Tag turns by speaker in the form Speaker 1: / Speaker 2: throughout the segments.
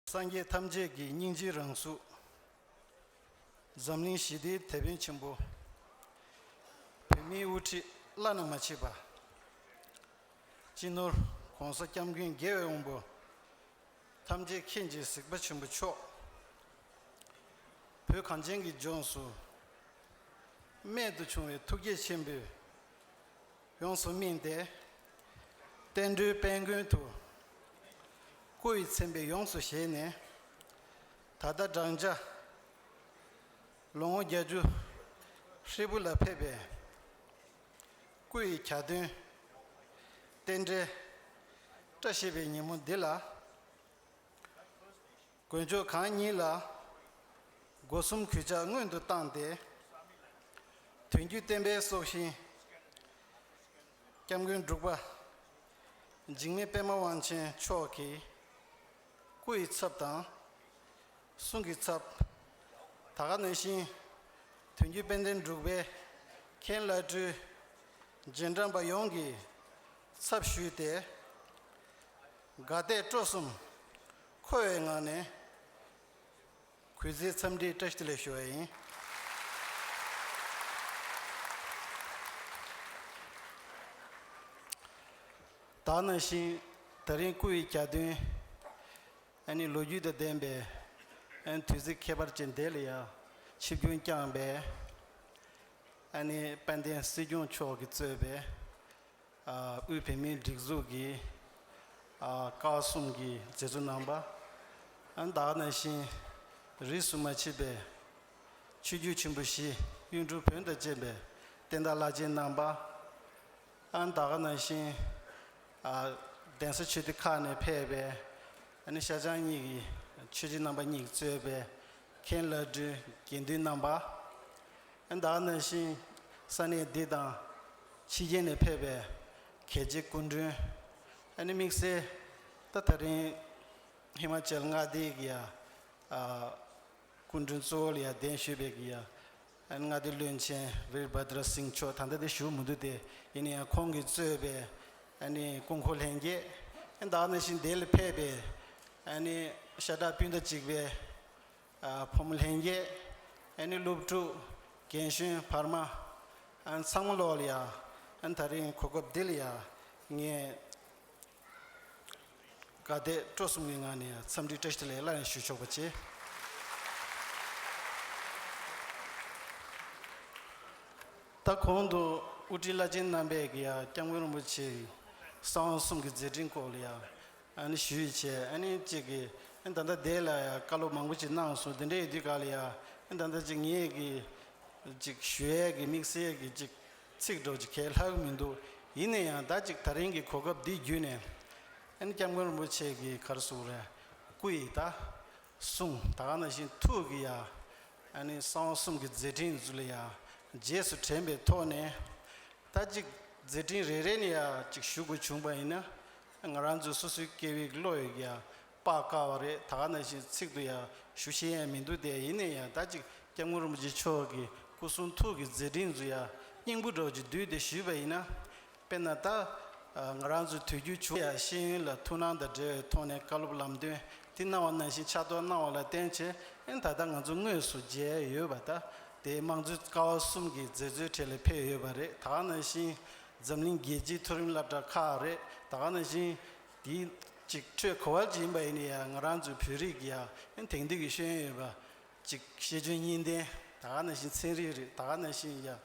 Speaker 1: སངས་རྒྱས་ཐམས་ཅད་ཀྱི་སྙིང་རྗེའི་རང་གཟུགས། འཛམ་གླིང་ཞི་བདེའི་དེད་དཔོན་ཆེན་པོ། བོད་མིའི་དབུ་ཁྲིད་བླ་ན་མ་མཆིས་པ། སྤྱི་ནོར ྋགོང་ས ྋསྐྱབས་མགོན་རྒྱལ་བའི་དབང་པོ། ཐམས་ཅད་མཁྱེན་བརྗེད་གཟིགས་པ་ཆེན་པོ་མཆོག། བོད་གངས་ཅན་གྱི་ལྗོངས་སུ། རྨད་དུ་བྱུང་བའི་ཐུགས་བསྐྱེད་ཆེན་པོས། ཡོངས་སུ་སྨིན་ཏེ། བསྟན་འགྲོའི་དཔལ་མགོན་དུ། སྐུ་ཡི་མཚན་དཔེ་ཡོངས་སུ་བཞེས་ནས། ད་ལྟ་བགྲང་བྱ། ལོ་ངོ་བརྒྱ་ཅུ། ཧྲིལ་པོ་ལ་ཕེབས་པའི། སྐུ་ཡི་གྱ་སྟོན། རྟེན་འབྲེལ། བཀྲ་ཤིས་པའི་ཉིན་མོ་འདི་ལ། དགོན་མཆོག་གང་ཉིད་ལ། སྒོ་གསུམ་གུས་ཕྱག་སྔོན་དུ་བཏང་སྟེ། དོན་བརྒྱུད་བསྟན་པའི་སྲོག་ཤིང། སྐྱབས་མགོན་འབྲུག་པ། འཇིགས་མེད་པདྨ་དབང་ཆེན་མཆོག་གིས། སྐུ་ཡི་ཚབ་དང། གསུང་གི་ཚབ། ད་ག་ནས་ཤིང། དོན་བརྒྱུད་དཔལ་ལྡན་འབྲུག་པའི་མཁན་བླ་སྤྲུལ། རྗེས་འབྲངས་པ་ཡོངས་ཀྱིས་ཚབ་ཞུས་ཏེ། དགའ་དད་སྤྲོ་གསུམ་འཁོལ་བའི་ངང་ནས། གུས་བརྩི་འཚམས་འདྲིའི་བཀྲ་ཤིས་ལེགས་ཞུ་བ་ཡིན། ད་ནང་བཞིན་ད་རིང་སྐུ་ཡི་གྱ་སྟོན། ཨ་ནི་ལོ་རྒྱུས་དང་ལྡན་པའི། དུས་ཚིགས་ཁྱད་པར་ཅན་འདི་ལ་ཡང། ཆིབས་རྒྱུན་བསྐྱངས་པའི། ཨ་ནི་དཔལ་ལྡན་སྲིད་སྐྱོང་མཆོག་གིས་གཙོས་པའི། དབུས་བོད་མིའི་སྒྲིག་འཛུགས་ཀྱི་བཀའ་གསུམ་གྱི་མཛད་གཙོ་རྣམ་པ། བདག་ནང་བཞིན་རིས་སུ་མ་མཆིས་པའི་ཆོས་བརྒྱུད་ཆེན་པོ་བཞི་གཡུང་དྲུང་བོན་དང་བཅས་པའི་བསྟན་བདག་བླ་ཆེན་རྣམ་པ། བདག་ནང་བཞིན་གདན་ས་ཆོས་སྡེ་ཁག་ནས་ཕེབས་པའི་ཤ་ཆང་གཉིས་ཀྱི་ཆོས་རྗེ་རྣམ་པ་གཉིས་གཙོས་པའི་མཁན་བླ་སྤྲུལ་དགེ་འདུན་རྣམ་པ། བདག་ནང་བཞིན་ས་གནས་འདི་དང། ཕྱི་རྒྱལ་ནས་ཕེབས་པའི་གལ་ཆེའི་སྐུ་མགྲོན། ཨ་ནི་དམིགས་བསལ་ད་ད་རིང་ཧི་མ་ཅལ་མངའ་སྡེའི་གི་ཡ་སྐུ་མགྲོན་གཙོ་བོ་ལ་ཡ་གདན་ཞུས་པའི་གི་ཡ་ཨ་ནི་མངའ་སྡེའི་བློན་ཆེན་བིར་བྷ་དྲ་སིང་མཆོག་ད་ལྟ་དེ་བཞུགས་མི་འདུག་སྟེ་ཡིན་ཡང་ཁོང་གིས་གཙོས་པའི་ཨ་ནི་སྐུ་འཁོར་ལྷན་རྒྱས་ཨ་ནི་ད་ནང་བཞིན་དེ་ལ་ཕེབས་པའི་ཨ་ནི་ཤ་ཁྲག་སྤུན་ཟླ་གཅིག་པའི། བུ་མོ་ལྷན་རྒྱས་ཨེ་ནི་སློབ་ཕྲུག་རྒན་གཞོན་བར་མ་ཚང་མ་ལོག་ལ་ཡ་ད་རིང་གོ་སྐབས་འདི་ལ་ཡ་ངས་དགའ་དད་སྤྲོ་གསུམ་གྱི་ངང་ནས་འཚམས་འདྲི་བཀྲ་ཤིས་ལེགས་སླ་ཡང་ཞུ་ཆོག་པ་བྱས། ད་གོང་དུ་དབུ་ཁྲིད་བླ་ཆེན་རྣམ་པས་ཀྱི་ཡ་སྐྱབས་མགོན་རིན་པོ་ཆེའི་གསང་བ་གསུམ་གྱི་མཛད་འཕྲིན་སྐོར་ལ་ཡ་ཨཱ་ཞུས་བྱས་ཨཱ་ནི་ཅིག་གི་ཨཱ་ད་ལྟ་དེ་ལ་ཡང་བཀའ་སློབ་མང་པོ་ཅིག་གནང་སོང་དེ་འདྲའི་དུས་སྐབས་ལ་ཡང་ཨཱ་ད་ལྟ་ཅིག་ངེད་ཀྱི་ཅིག་ཞུ་ཡས་ཀྱི་དམིགས་བསལ་གྱི་ཅིག་ཚིག་སྒྲོག་ཅིག་གལ་ལྷག་མི་འདུག་ཡིན་ན་ཡང་ད་ཅིག་ད་རིང་གི་གོ་སྐབས་འདི་བརྒྱུད་ནས་ཨཱ་ནི་སྐྱབས་མགོན་རིན་པོ་ཆེ་གི་གར་གསུང་རེ་སྐུ་ཡི་ད་གསུང་ད་ག་ན་བཞིན་ཐུགས་ཀྱི་ཡ་ཨཱ་ནི་གསང་བ་གསུམ་གྱི་མཛད་འཕྲིན་ཟུར་ལ་ཡང་རྗེས་སུ་དྲན་པའི་ཐོག་ནས་ད་ཅིག་མཛད་འཕྲིན་རེ་རེ་ནས་ཡང་ཅིག་ཞུ་དགོས་བྱུང་བ་ཡིན་ན། ང་རང་ཚོའི་སོ་སོའི་སྐད་ཡིག་བློ་ཡིག་ཡང་དཔག་དཀའ་བ་རེད་ད་ག་ནང་བཞིན་ཚིག་ཏུ་ཡང་ཞུ་ཤེས་ཡ་མི་འདུག་སྟེ་ཡིན་ནས་ཡང་ད་ཅིག་སྐྱབས་མགོན་རིན་པོ་ཆེ་མཆོག་གི་སྐུ་གསུང་ཐུགས་ཀྱི་མཛད་འཕྲིན་ཚོ་ཡང་སྙིང་པོ་གྲོགས་ཀྱིས་བསྡུས་ཏེ་ཞུས་པ་ཡིན་ན། དཔེར་ན་ད་ང་རང་ཚོའི་དུས་རྒྱུན་བྱུང་ཡ་ཤེས་ཡོན་ལ་ཐུགས་སྣང་དང་འབྲེལ་བའི་ཐོག་ནས་བཀའ་སློབ་ལམ་སྟོན་དེ་གནང་བ་ནང་བཞིན་ཕྱག་ཐོག་གནང་བ་ལ་བརྟེན་བྱས་ན་ད་ལྟ་ང་ཚོ་དངོས་སུ་མཇལ་ཡོད་པ་ད་དེ་དམངས་གཙོའི་ཀ་བ་གསུམ་གྱི་མཛད་གཙོའི་གྲས་ལ་ཕེབས་ཡོད་པ་རེད་ད་ག་ནང་བཞིན་འཛམ་གླིང་རྒྱལ་སྤྱིའི་མཐོ་རིམ་བསླབ་གྲྭ་ཁག་རེད་ད་ག་ན་བཞིན། དེའི་གཅིག་ཁྲོད་གོ་བ་ཅིག་ཡིན་པ་ཡིན་ནའི་ཡང་ང་རང་ཚོའི་བོད་རིགས་ཀྱི་ཡང་དེང་དུས་ཀྱི་ཤེས་ཡོན་ཡོད་པ་གཅིག་ཤེས་འཇོན་གཉིས་ལྡན་ད་ག་ན་བཞིན་ཚན་རིག་རིག་ད་ག་ན་བཞིན་ཡང་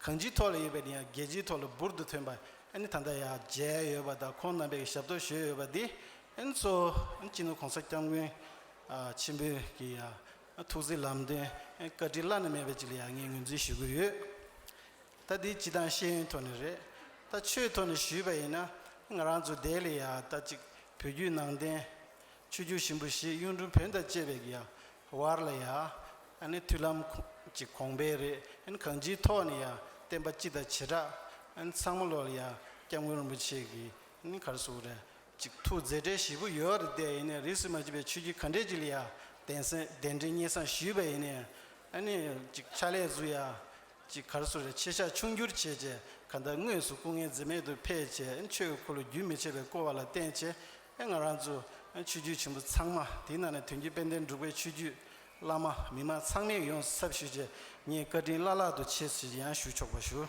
Speaker 1: གང་ཅིའི་ཐོག་ལ་ཡོད་པའི་ཡང་རྒྱལ་སྤྱིའི་ཐོག་ལ་འབུར་དུ་ཐོན་པ་ཨནི་ད་ལྟ་ཡང་མཇལ་ཡོད་པ་དང་ཁོང་རྣམ་པས་ཞབས་ཏོག་ཞུས་ཡོད་པ་འདི་ཨནི་ཚོ་ཨནི་སྤྱི་ནོར་གོང་ས་སྐྱབས་མགོན་ཆེན་པོས་ཀྱི་ཡང་ཐུགས་བརྩེའི་ལམ་སྟོན་ཨནི་བཀའ་དྲིན་བླ་ན་མེད་པ་ཅིག་ལ་ཡང་ངས་ངོས་འཛིན་ཞུ་གི་ཡོད། ད་འདི་སྤྱི་དང་ཤེས་ཡོན་ཐོག་ནས་རེད་ད་ཆོས་ཐོག་ནས་ཞུས་པ་ཡིན་ན་ང་རང་ཚོ་འདའི་ལས་ཡག་ད་ཅིག་བོད་རྒྱུད་ནང་བསྟན་ཆོས་རྒྱུད་ཞིམ་པོ་ཞིག་གཡུང་དྲུང་བོན་དང་བཅས་པའི་གི་ཡག་བར་ལ་ཡག་ཨ་ནི་མཐུན་ལམ་གྱི་གོང་འཕེལ་རེད་ཨ་གང་ཅིའི་ཐོག་ནས་ཡག་བསྟན་པ་སྤྱི་དང་བྱེ་བྲག་ཨ་ཚང་མ་ལོག་ལ་ཡག་སྐྱབས་མགོན་རིན་པོ་ཆེ་གི་ཨ་གར་སོགས་རེད་ཅིག་ཐུགས་མཛད་གྲལ་བཞི་པོ་ཡོད་རེད་དེ་ཡིན་ན་རིས་སུ་མ་ཆུད་པའི་ཆོས་རྒྱུད་ག་འདྲས་ཅིག་ལ་ཡག་གདན་གདན་འདྲེན་སྙན་གསང་ཞུས་པ་ཡིན་ན་ཨ་ནི་ཅིག་ཕྱག་ལས་སུ་ཡག་གཅིག་གར་སོ་རས་ཕྱེད་ཤ་ཆུང་བསྒྱུར་བྱས་རྗེས་གར་མདའ་དངོས་སུ་སྐུ་ངལ་འཛེམས་མེད་དུ་འཕེལ་རྗེས་ཆོས་འཁོར་ལོ་རྒྱུན་མི་ཆད་པས་བསྐོར་བ་ལ་བརྟེན་རྗེས་ང་རང་ཚོ་ཆོས་བརྒྱུད་ཆེན་པོ་ཚང་མ་དེའི་ནང་ནས་དོན་གྱི་དཔལ་ལྡན་འབྲུག་པའི་ཆོས་བརྒྱུད་བླ་མ་མི་དམངས་ཚང་མས་ཡོངས་སུ་ཚབ་ཞུས་རྗེས་ངས་བཀའ་དྲིན་བླ་ལྷག་ཏུ་ཆེ་ཞེས་ཡང་ཞུ་ཆོག་པ་ཞུ།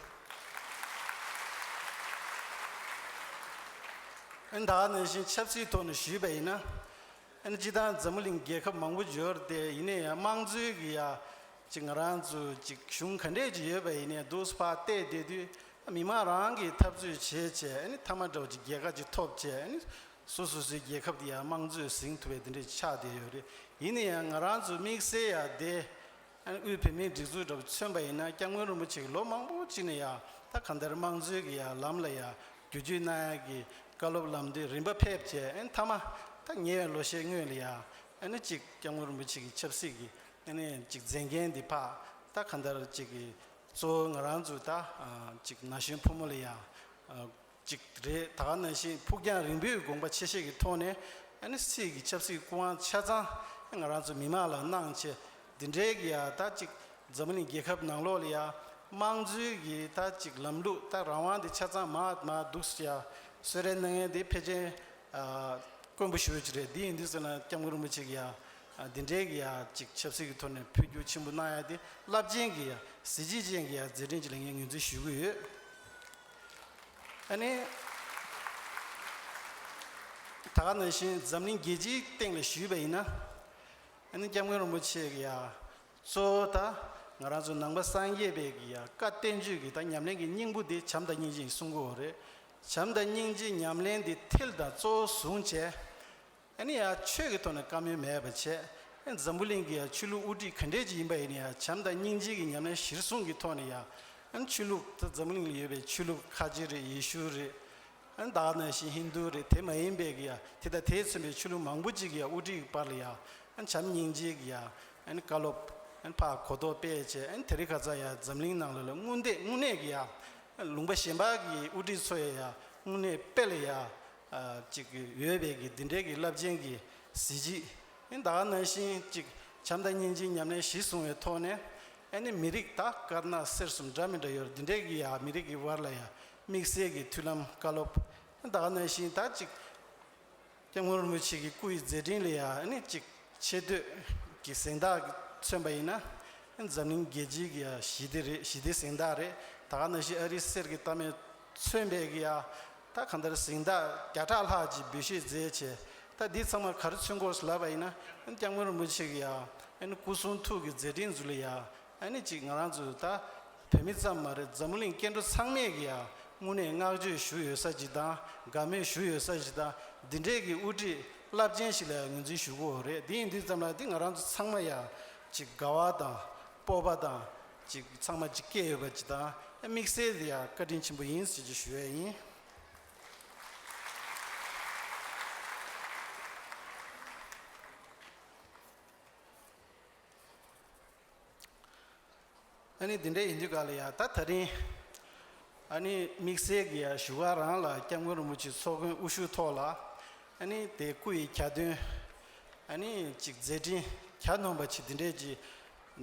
Speaker 1: ད་ནས་བཞིན་ཆབ་སྲིད་ཐོག་ནས་ཞུས་པ་ཡིན་ན། སྤྱི་དང་འཛམ་བུ་གླིང་རྒྱལ་ཁབ་མང་པོ་འབྱོར་ཏེ་ཡིན་ན་ཡང་དམངས་གཙོའི་གི་ཡ། གཅིག་ང་རང་ཚོའི་གཅིག་གཞུང་ག་འདྲས་ཀྱི་ཡོད་པ་ཡིན་ནའི་སྡུག་ཕ་བལྟས་བསྡད་དུས་མི་མང་རང་གིས་འཐབ་རྩོད་བྱེད་ཆེད་མཐའ་མ་འགྲོ་གཅིག་རྒྱལ་ཁ་གཅིག་ཐོབ་ཆེད་སོ་སོ་སོའི་རྒྱལ་ཁབ་དེ་ཡང་དམངས་གཙོས་ཟིང་ཐུབ་པའི་དེ་འདྲས་ཆགས་བསྡད་ཡོད་རེད་ཡིན་ནའི་ཡང་ང་རང་ཚོའི་དམིགས་བསལ་ཡང་སྡེ་དབུས་བོད་མིའི་སྒྲིག་འཛུགས་འདྲ་བོ་མཚོན་པ་ཡིན་ན་སྐྱབས་མགོན་རིན་པོ་ཆེ་གི་ལོ་མང་པོ་གཅིག་ནས་ཡང་ད་གང་ལྟར་དམངས་གཙོའི་གི་ཡང་ལམ་ལ་ཡང་རྒྱུ་རྒྱུ་ན་ཡང་གི་བཀའ་སློབ་ལམ་དེ་རིམ་པ་ཕེབས་ཆེད་མཐའ་མ་ད་ཉེ་བའི་ལོ་ཤས་སྔོན་ལ་ཡང་ཨ་ནི་ཅིག་སྐྱབས་ངོར་མི་ཅིག་གིས་ཆབ་སྲིད་ཀྱི་ཨ་ནི་ཅིག་མཛད་མཁན་འདི་ཕག་རྟགས་ག་འདར་ཅིག་གིས་གཙོ་བོ་ང་རང་ཚོའི་ད་ཅིག་ན་གཞོན་ཕོ་མོ་ལ་ཡང་ཅིག་རེད་ད་ག་ན་བཞིན་ཕུགས་རྒྱང་རིང་པོའི་དགོངས་པ་ཆེ་ཤེས་ཀྱི་ཐོག་ནས་ཨ་ནི་སྲིད་ཀྱི་ཆབ་སྲིད་སྐུ་དབང་ཆ་ཚང་ང་རང་ཚོ་མི་དམངས་ལ་གནང་ཆེ་འདི་འདྲའི་གི་ཡང་ད་ཅིག་འཛམ་གླིང་རྒྱལ་ཁབ་ནང་ལོགས་ལ་ཡང་དམངས་གཙོའི་གི་ད་ཅིག་ལམ་ལུགས་ད་རང་དབང་འདི་ཆ་ཚང་མ་མ་འདུག་ཡང་གསོལ་རས་གནང་མཁན་འདི་ཕལ་ཆེན་དཀོན་པོ་ཞུ་ཡོད་ཅིག་རེད་འདི་ཡིན་འདི་ཟེར་ན་སྐྱབས་མགོན་རིན་པོ་ཆེ་གི་ཡང་འདི་འདྲའི་གི་ཡང་ཅིག་ཆབ་སྲིད་ཀྱི་ཐོག་ནས་འཕོ་འགྱུར་ཆེན་པོ་གནང་ཡག་དེ་རླབས་ཆེན་གྱི་ཡང་གཟི་བརྗིད་ཅན་གྱི་ཡང་མཛད་འཕྲིན་ཅིག་ལ་ངས་ངོས་འཛིན་ཞུ་གི་ཡོད། ཨ་ནི། ད་ག་ནང་བཞིན་འཛམ་གླིང་རྒྱལ་སྤྱིའི་སྟེང་ལ་ཞུས་པ་ཡིན་ན། ཨ་ནི་སྐྱབས་མགོན་རིན་པོ་ཆེ་གི་ཡང་གཙོ་བོ་ད་ང་རང་ཚོ་ནང་པ་སངས་རྒྱས་པའི་གི་ཡང་བཀའ་བསྟན་བཅོས་ཀྱི་ད་ཉམས་ལེན་གྱི་སྙིང་པོ་དེ་བྱམས་དང་སྙིང་རྗེ་ཡི་གསུང་གོ་རེད། བྱམས་དང་སྙིང་རྗེའི་ཉམས་ལེན་འདི་ཐིལ་དང་གཙོ་བོ་བཟུང་བྱས། ཡིན་ན་ཡང་ཆོས་ཀྱི་ཐོག་ནས་བཀའ་མོལ་མེད་པར་བྱས། འཛམ་བུ་གླིང་གི་ཡང་ཆོས་ལུགས་དབུ་ཁྲིད་ག་འདྲས་ཅིག་ཡིན་པ་ཡིན་ན་ཡང་བྱམས་དང་སྙིང་རྗེ་གི་ཉམས་ལེན་གཞིར་བཟུང་གི་ཐོག་ནས་ཡང། ཆོས་ལུགས་དེ་འཛམ་བུ་གླིང་ལ་ཡོད་པའི་ཆོས་ལུགས་ཁ་ཆེ་རེད་ཡེ་ཤུ་རེད། བདག་ནང་བཞིན་ཧིན་རྡུ་རེད་དེ་མ་ཡིན་པའི་གི་ཡང་དེ་དང་དེས་མཚོན་པའི་ཆོས་ལུགས་མང་པོ་ཅིག་གི་ཡང་དབུ་ཁྲིད་ཀྱི་བར་ལ་ཡང། བྱམས་སྙིང་རྗེ་གི་ཡང་བཀའ་སློབ། ཕ་གོ་རྟོགས་སྤེལ་བྱས། དེ་རིགས་ག་ཚང་ཡང་འཛམ་གླིང་ནང་ལ་ལ་དངུལ་འདེད་དངུལ་གནས་གི་ཡང། ལུང་པ་གཞན་པ་གི་དབུ་ཁྲིད་ཚོ་ཡང་དངོས་གནས་དཔེ་ལ་ཡ་ཅིག་ཡོད་པའི་གི་འདི་འདྲའི་གི་རླབས་ཆེན་གི་གཟི་བརྗིད་ད་ནང་བཞིན་ཅིག་བྱམས་དང་སྙིང་རྗེ་མཉམ་གནས་གཞི་བཟུང་བའི་ཐོག་ནས་ཨ་ནི་མི་རིགས་ད་དཀར་ནག་སེར་གསུམ་འདྲ་མི་འདྲ་ཡོད་འདི་འདྲའི་གི་ཡ་མི་རིགས་གི་དབར་ལ་ཡ་དམིགས་བསལ་གི་མཐུན་ལམ་བཀའ་སློབ་ད་ནང་བཞིན་ད་ཅིག། སྐྱབས་ངོར་མི་ཆེ་གི་སྐུ་ཡི་མཛད་འཕྲིན་ལས་ཡང་ཅིག་ཆེ་བསྟོད་ཀྱི་གཟེངས་རྟགས་མཚོན་པ་ཡིན་ན། འཛམ་གླིང་རྒྱལ་སྤྱིའི་གི་ཡང་ཞི་བདེ་རེད་ཞི་བདེའི་གཟེངས་རྟགས་རེད་ད་ག་ན་ཞིག་ཨ་རིའི་གསེར་གྱི་རྟ་མེ་མཚོན་པའི་གི་ཡང་ད་ག་འདིར་གཟེངས་རྟགས་བརྒྱ་ཕྲག་ལྷག་ཅིག་འབུལ་བཞེས་མཛད་ཆེ་ད་འདི་ཚང་མ་ག་རེ་མཚོན་སྐོར་ལབ་པ་ཡིན་ན། སྐྱབས་ངོར་མི་ཆེ་གི་ཡང་སྐུ་གསུང་ཐུགས་ཀྱི་མཛད་འཕྲིན་ཟུར་ལས་ཡང་ཨ་ནི་ཅིག་ང་རང་ཚོ་ད་བོད་མི་ཙམ་མ་རེད་འཛམ་གླིང་སྐྱེ་འགྲོ་ཚང་མས་ཀྱི་ཡང་དངོས་གནས་བསྔགས་བརྗོད་ཞུ་ཡོད་ས་ཅིག་དང་དགའ་མོས་ཞུ་ཡོད་ས་ཞིག་དང་འདི་འདྲས་ཀྱི་དབུ་ཁྲིད་རླབས་ཆེན་ཞིག་ལ་ཡང་ངོས་འཛིན་ཞུ་གི་འོ་རེད་འདི་ཡིན་འདི་ཙམ་ལ་འདི་ང་རང་ཚོ་ཚང་མ་ཡང་ཅིག་དགའ་བ་དང་སྤོབས་པ་དང་ཅིག་ཚང་མ་ཅིག་སྐྱེས་ཡོད་པ་ཅིག་དང་དམིགས་བསལ་དེ་ཡང་བཀའ་དྲིན་ཆེན་པོ་ཡིན་ཟེར་གྱི་ཞུ་ཡས་ཡིན། ཨཱ་ནི་འདི་འདྲ་ཡིན་རྒྱུ་ག་ལ་ཡག་ད་ད་རིང་ཨཱ་ནི་དམིགས་བསལ་གྱི་བཞུགས་སྒར་རང་ལ་སྐྱབས་མགོན་རིན་པོ་ཆེ་ཚོགས་མགོན་དབུ་བཞུགས་ཐོག་ལ་ཨཱ་ནི་དེ་སྐུ་ཡི་གྱ་སྟོན་ཨཱ་ནི་ཅིག་མཛད་འཕྲིན་གྱ་ནོམ་པ་ཆེ་འདི་འདྲས་ཀྱི་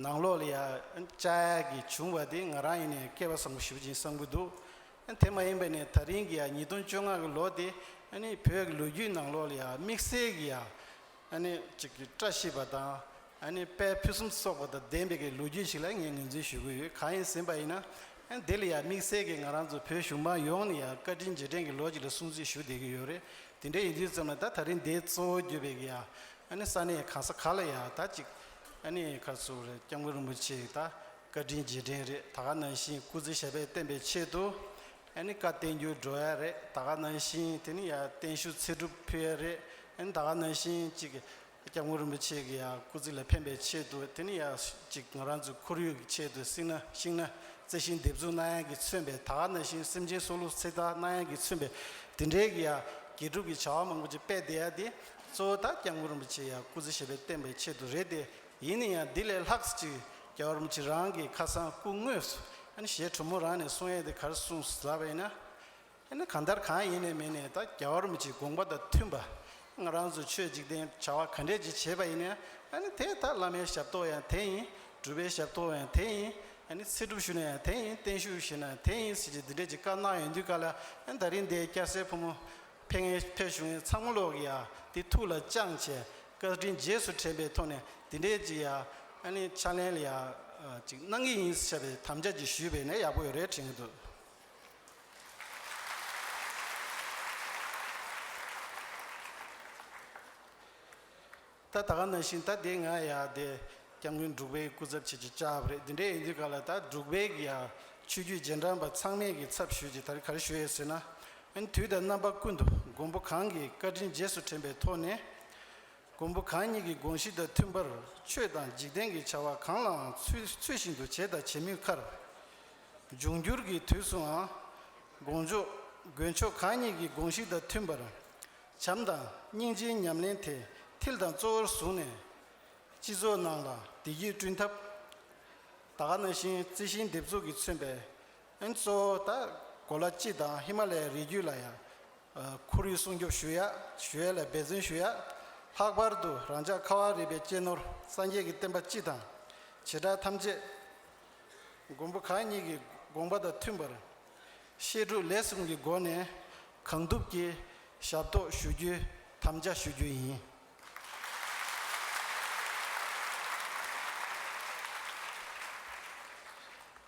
Speaker 1: ནང་ལོགས་ལ་ཡང་བཅའ་ཡག་གི་བྱུང་བ་དེ་ང་རང་ཡེ་ནས་སྐལ་བ་བཟང་པོ་ཞུ་བཞིན་བསམ་གྱི་འདུག་དེ་མ་ཡིན་པ་ནས་ད་རིང་གི་ཡང་ཉིས་སྟོང་བཅོ་ལྔ་གི་ལོ་དེ་ཨཱ་ནི་བོད་ཀྱི་ལོ་རྒྱུས་ནང་ལོགས་ལ་ཡང་དམིགས་བསལ་གྱི་ཡང་ནི་གཅིག་གིས་བཀྲ་ཤིས་པ་དང་ནི་དཔལ་ཕུན་སུམ་ཚོགས་པ་དང་ལྡན་པའི་ལོ་རྒྱུས་ཞིག་ལ་ངས་ངོས་འཛིན་ཞུ་གི་ཡོད་གང་ཡིན་ཟིན་པ་ཡིན་ན་འདི་ལ་ཡང་དམིགས་བསལ་གྱིས་ང་རང་ཚོ་བོད་གཞུང་མང་ཡོངས་ནས་ཡང་བཀའ་དྲིན་རྗེས་དྲན་གྱི་ལོ་ཞིག་ལ་སྲུང་བརྩི་ཞུ་བསྡད་ཀྱི་ཡོད་རེད་དེ་འདྲ་ཡིན་དུས་ཙམ་ལ་ད་ད་རིང་འདིའི་གཙོ་བོ་གྱུར་པའི་ཡང་ནི་ས་གནས་གང་ས་ག་ལ་ཡང་ད་ཅིག་ནི་ཁ་སུ་རེད་སྐྱབས་མགོན་རིན་པོ་ཆེ་ད་བཀའ་དྲིན་རྗེས་དྲན་རེད་ད་ག་ནང་བཞིན་སྐུ་ཚེ་ཞབས་པད་བརྟན་པའི་ཆེད་དུ་ཨ་ནི་བཀའ་བསྟན་འགྱུར་འགྲོ་ཡ་རེད་ད་ག་ན་ཤིང་དེ་ནི་ཡ་བརྟན་བཞུགས་ཚེ་སྒྲུབ་ཕུལ་ཡ་རེད་ཨ་ནི་ད་ག་ན་ཤིང་གཅིག་སྐྱབས་མགོན་རིན་པོ་ཆེ་གི་ཡ་སྐུ་ཚིག་ལ་ཕན་པའི་ཆེད་དུ་དེ་ནི་ཡ་གཅིག་ང་རང་ཚོའི་ཁོར་ཡུག་གི་ཆེད་དུ་སིང་ན་ཤིང་ན་རྩེ་ཤིང་འདེབས་འཛུགས་གནང་ཡ་གི་མཚོན་པའི་ད་ག་ན་ཤིང་སེམས་ཅན་སྲོག་བླུ་ཚེ་བདག་གནང་ཡ་གི་མཚོན་པའི་དེ་འདྲའི་གི་ཡ་དགེ་སྒྲུབ་ཀྱི་བྱ་བ་མང་པོ་ཅིག་སྤེལ་བསྡད་ཡ་དེ་གཙོ་བོ་ད་སྐྱབས་མགོན་རིན་པོ་ཆེ་ཡ་སྐུ་ཚེ་ཞེས་པའི་བསྟན་པའི་ཆེད་དུ་རེད་དེ་ཡིན་ན་ཡང་འདི་ལས་ལྷག་ཅིག་རྒྱ་གར་མི་ཆི་རང་གི་ཁ་སང་སྐུ་དངོས་སུ་གཞས་དྲོ་མོ་རང་ནས་གསུང་ཡས་དེ་གར་གསུང་ཟ་བས་ན། ཡིན་ན་གང་ལྟར་གང་ཡིན་ནས་མིན་ནས་ད་རྒྱ་གར་མི་ཆི་དགོངས་པ་དང་མཐུན་པ་ང་རང་ཚོ་ཆོས་འཇིག་རྟེན་བྱ་བ་ག་འདྲས་ཅིག་བྱེད་པ་ཡིན་ན་དེ་ད་བླ་མའི་ཞབས་ཏོག་ཡང་དེ་ཡིན་སྒྲུབ་པའི་ཞབས་ཏོག་ཡང་དེ་ཡིན་ཚེ་སྒྲུབ་ཞུ་ན་ཡང་དེ་ཡིན་བརྟན་བཞུགས་ཞུ་ན་དེ་ཡིན་ཟེར་གྱི་འདི་འདྲས་ཅིག་བཀའ་གནང་ཡོང་དུས་ག་ལ་ཡིན་ད་རིང་འདི་སྐྱ་སེར་ཕོ་མོ། ཕེ་ངེ་ཕེ་ཞུ་ངེ་ཚང་མོ་ལོག་གི་ཡ་དེ་ཐུགས་ལ་བཅང་བྱས་བཀའ་དྲིན་རྗེས་སུ་དྲན་པའི་ཐོག་ནས་དེ་འདྲའི་ཅིག་ཡ་ཨ་ནི་ཕྱག་ལེན་ལ་ཡ་ཅིག་གནང་གི་ཡིན་ཟེར་བའི་དམ་བཅའ་ཅིག་ཞུས་པས་ནས་ཡག་པོ་ཡོད་རེད་དྲན་གྱི་འདུག། ད་ད་ག་ན་བཞིན་ད་དེ་ང་ཡ་དེ་སྐྱབས་མགོན་འབྲུག་པའི་སྐུ་ཚབ་བྱེད་ཀྱི་ལྕགས་ཧབ་རེད་དེ་འདྲས་ཡིན་དུས་ག་ལ་ད་འབྲུག་པའི་གི་ཡ་ཆོས་རྒྱུད་རྗེས་འབྲང་པ་ཚང་མས་གི་ཚབ་ཞུས་ཀྱི་ད་རེ་ག་རེ་ཞུ་ཡས་ཟེར་ན་ཨན་དུས་ད་རྣམ་པ་ཀུན་ཏུ་མགོན་པོ་གང་གི་བཀའ་དྲིན་རྗེས་སུ་དྲན་པའི་ཐོག་ནས་མགོན་པོ་གང་ཉིད་ཀྱི་དགོངས་གཞི་དང་མཐུན་པར་ཆོས་དང་འཇིག་རྟེན་གྱི་བྱ་བ་གང་ལའང་ཚུལ་ཚུལ་བཞིན་དུ་བྱས་དང་བྱེད་མུས་ཁར། འབྱུང་འགྱུར་གྱི་དུས་སུའང། དགོངས་མཆོག་མགོན་མཆོག་གང་ཉིད་ཀྱི་དགོངས་གཞི་དང་མཐུན་པར། བྱམས་དང་སྙིང་རྗེའི་ཉམས་ལེན་དེ་མཐིལ་དང་གཙོ་བོར་བཟུང་ནས། སྤྱི་ཚོགས་ནང་ལ་བདེ་སྐྱིད་བསྐྲུན་ཐབས། དག་སྣ་བཞིན་རྩི་ཤིང་འདེབས་འཛུགས་ཀྱིས་མཚོན་པའི་ཨན་གཙོ་བོ་དག་གོ་ལ་སྤྱི་དང་ཧི་མ་ལའི་རི་རྒྱུད་ལ་ཡང་ཁོར་ཡུག་སྲུང་སྐྱོབ་ཞུ་ཡས་ལ་འབད་བརྩོན་ཞུ་ཡས། ལྷག་པར་དུ་རང་ཅག་ཁ་བ་རི་པའི་གཅེས་ནོར་སངས་རྒྱས་ཀྱི་བསྟན་པ་སྤྱི་དང་བྱེ་བྲག་ཐམས་ཅད་མགོན་པོ་གང་ཉིད་ཀྱི་དགོངས་པ་དང་མཐུན་པར་བཤད་སྒྲུབ་ལས་གསུམ་གྱི་སྒོ་ནས་གང་ཐུབ་ཀྱིས་ཞབས་ཏོག་ཞུ་རྒྱུའི་དམ་བཅའ་ཞུ་རྒྱུ་ཡིན།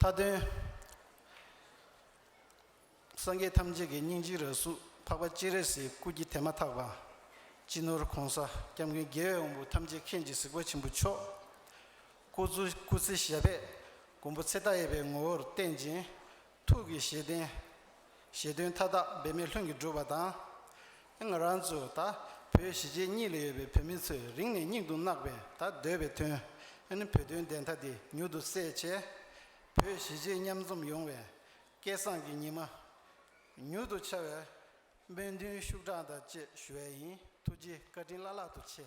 Speaker 1: མཐའ་དོན། སངས་རྒྱས་ཐམས་ཅད་ཀྱི་སྙིང་རྗེའི་རྭ་གཟུགས་འཕགས་པ་སྤྱན་རས་གཟིགས་སྐུ་སྐྱེ་དེ་མ་ཐག་པ། སྤྱི་ནོར ྋགོང་ས ྋསྐྱབས་མགོན་རྒྱལ་བའི་དབང་པོ་ཐམས་ཅད་མཁྱེན་གྱི་གཟིགས་པ་ཆེན་པོ་མཆོག། སྐུ་གཟུགས་སྐུ་ཚེ་ཞལ་པད་མགོན་པོ་ཚེ་བདག་ཡེར་པའི་ངོ་བོར་བསྟན་ཅིང། ཐུགས་ཀྱི་བཞེད་དོན། བཞེད་དོན་མཐའ་དག་འབད་མེད་ལྷུན་གྱིས་འགྲུབ་པ་དང། ང་རང་ཚོ་ད་བོད་གཞིས་བྱེས་གཉིས་ལ་ཡོད་པའི་བོད་མི་ཚོས་རིང་ནས་སྙིང་དུ་བརྣག་པའི་ད་སྡོད་པའི་དོན། བོད་དོན་བདེན་མཐའ་དེ་མྱུར་དུ་གསལ་བྱས། བོད་གཞིས་བྱེས་མཉམ་འཛོམས་ཡོང་བའི་སྐལ་བཟང་གི་ཉི་མ་མྱུར་དུ་འཆར་བའི་སྨོན་འདུན་ཤུགས་དྲག་དང་བཅས་ཞུ་བས་ཡིན་ཐུགས་རྗེ་བཀའ་དྲིན་བླ་ལྷག་ཏུ་ཆེ།